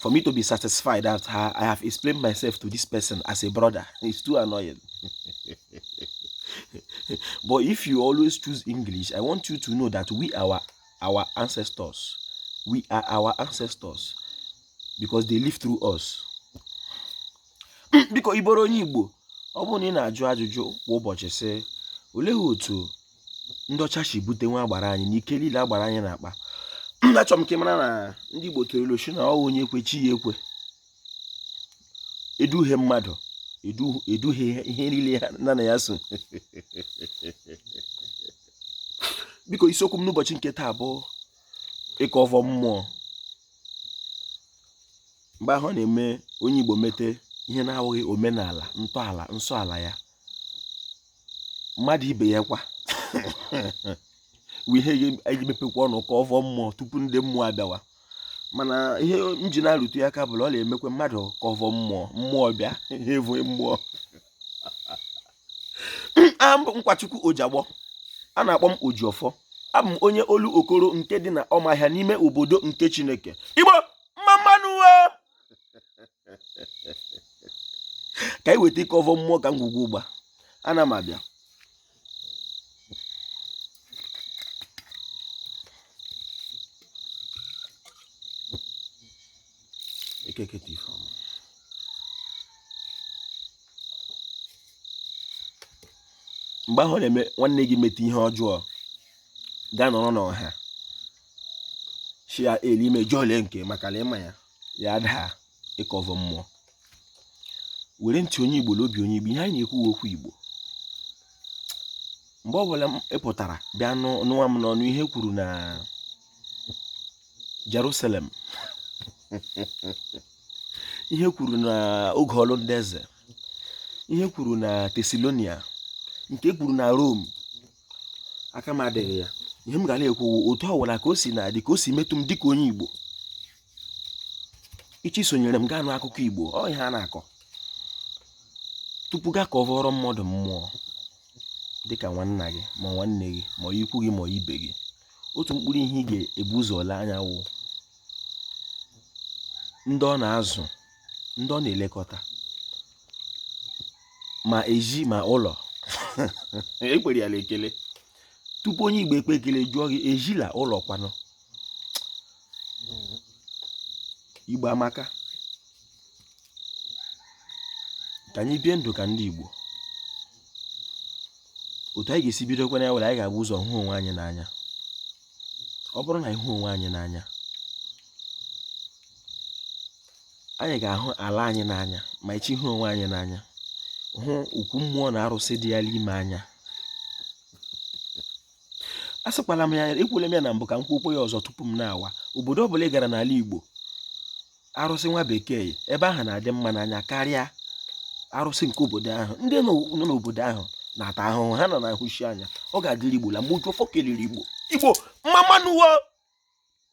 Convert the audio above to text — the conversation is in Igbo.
for me to be satisfied that I have explained myself to this person as a brother. It's too annoying. but if you always choose English, I want you to know that we are our ancestors. We are our ancestors because they live through us. biko ị bụrụ onye Igbo ọ bụrụ na ị na-ajụ ajụjụ kwa ụbọchị sị olee otu ndị ọcha si bute nwa agbara anyị na ike niile agbara anyị na-akpa achọrọ m ka ị mara na ndị Igbo tụrụ ilu sị na ọ wụ onye kwe chi ya ekwe eduhie mmadụ eduhie ihe niile ya na ya so biko isiokwu m n'ụbọchị nke taa bụ ịkọ ọvọ mmụọ mgbe ahụ ọ na-eme onye Igbo mete ihe na-awụghị omenala ntọala nsọ ala ya mmadụ ibe ya kwa wee ihe eji mepekwa ọnụ ka ọvọ mmụọ tupu ndị mmụọ abịawa mana ihe m ji na-arụtụ ya aka bụ na ọ na-emekwa mmadụ ka ọvọ mmụọ mmụọ bịa ihe evo mmụọ Nkwachukwu Ojigbo a na-akpọ m Ojiọfọ abụ m onye Olokoro nke dị na Ụmụahịa n'ime obodo nke chineke Igbo mma mma nụ ka anyị weta ịkọ ọvọ mmụọ ka ngwugwu ụgba ana m abịa ekeketa ife ọma mgbe ahụ na-eme nwanne gị mete ihe ọjọọ gaa nọrọ n'ọha shia elu i mejọọle nke maka na ị ma ya ya adaa ịkọ ọvọ mmụọ were ntị onye igbo na obi onye igbo ihe anyị na-ekwu wụ okwu igbo mgbe ọ bụla ị pụtara bịa nụwa m n'ọnụ ihe e kwuru na Jerusalem ihe e kwuru na oge ọlụ ndị eze ihe e kwuru na Tesalonia nke e kwuru na Rome aka m adịghị ya ihe m ga na-ekwu otu ọ wụla ka o si na-adị ka o si metụ m dịka onye Igbo ị chọọ isonyere m gaa nụ akụkọ Igbo ọ ihe a na-akọ tupu gaa ka ọ vọrọ mmadụ mmụọ dịka nwanna gị ma nwanne gị ma ikwu gị ma ibe gị otu mkpụrụ ihe ị ga-ebu ụzọ lee anya wụ ndị ọ na-azụ ndị ọ na-elekọta ma ezi ma ụlọ ekwere ya ekele tupu onye igbo ekpe ekele jụọ gị ezi na ụlọ kwanụ igbo amaka ka anyị bie ndụ ka ndị igbo otu anyị ga-esi bidokwa na ya wụ na anyị ga-ebu ụzọ hụ onwe anyị n'anya ọ bụrụ na anyị hụ onwe anyị n'anya anyị ga-ahụ ala anyị n'anya ma echi hụ onwe anyị n'anya hụ okwu mmụọ na arụsị dị ya n'ime anya asịkwala m ya ekwule m ya na mbụ ka m kwuokwa ya ọzọ tupu m nawa obodo ọbụla ị gara n'ala Igbo arụsị nwa bekee ebe ahụ na-adị mma n'anya karịa arụsị nke obodo ahụ ndị nọ n'obodo ahụ na-ata ahụhụ ha nọ na ahụsi anya ọ ga-adịrị Igbo la mgbe ụjọ fọkeliri Igbo Igbo mma mma nụ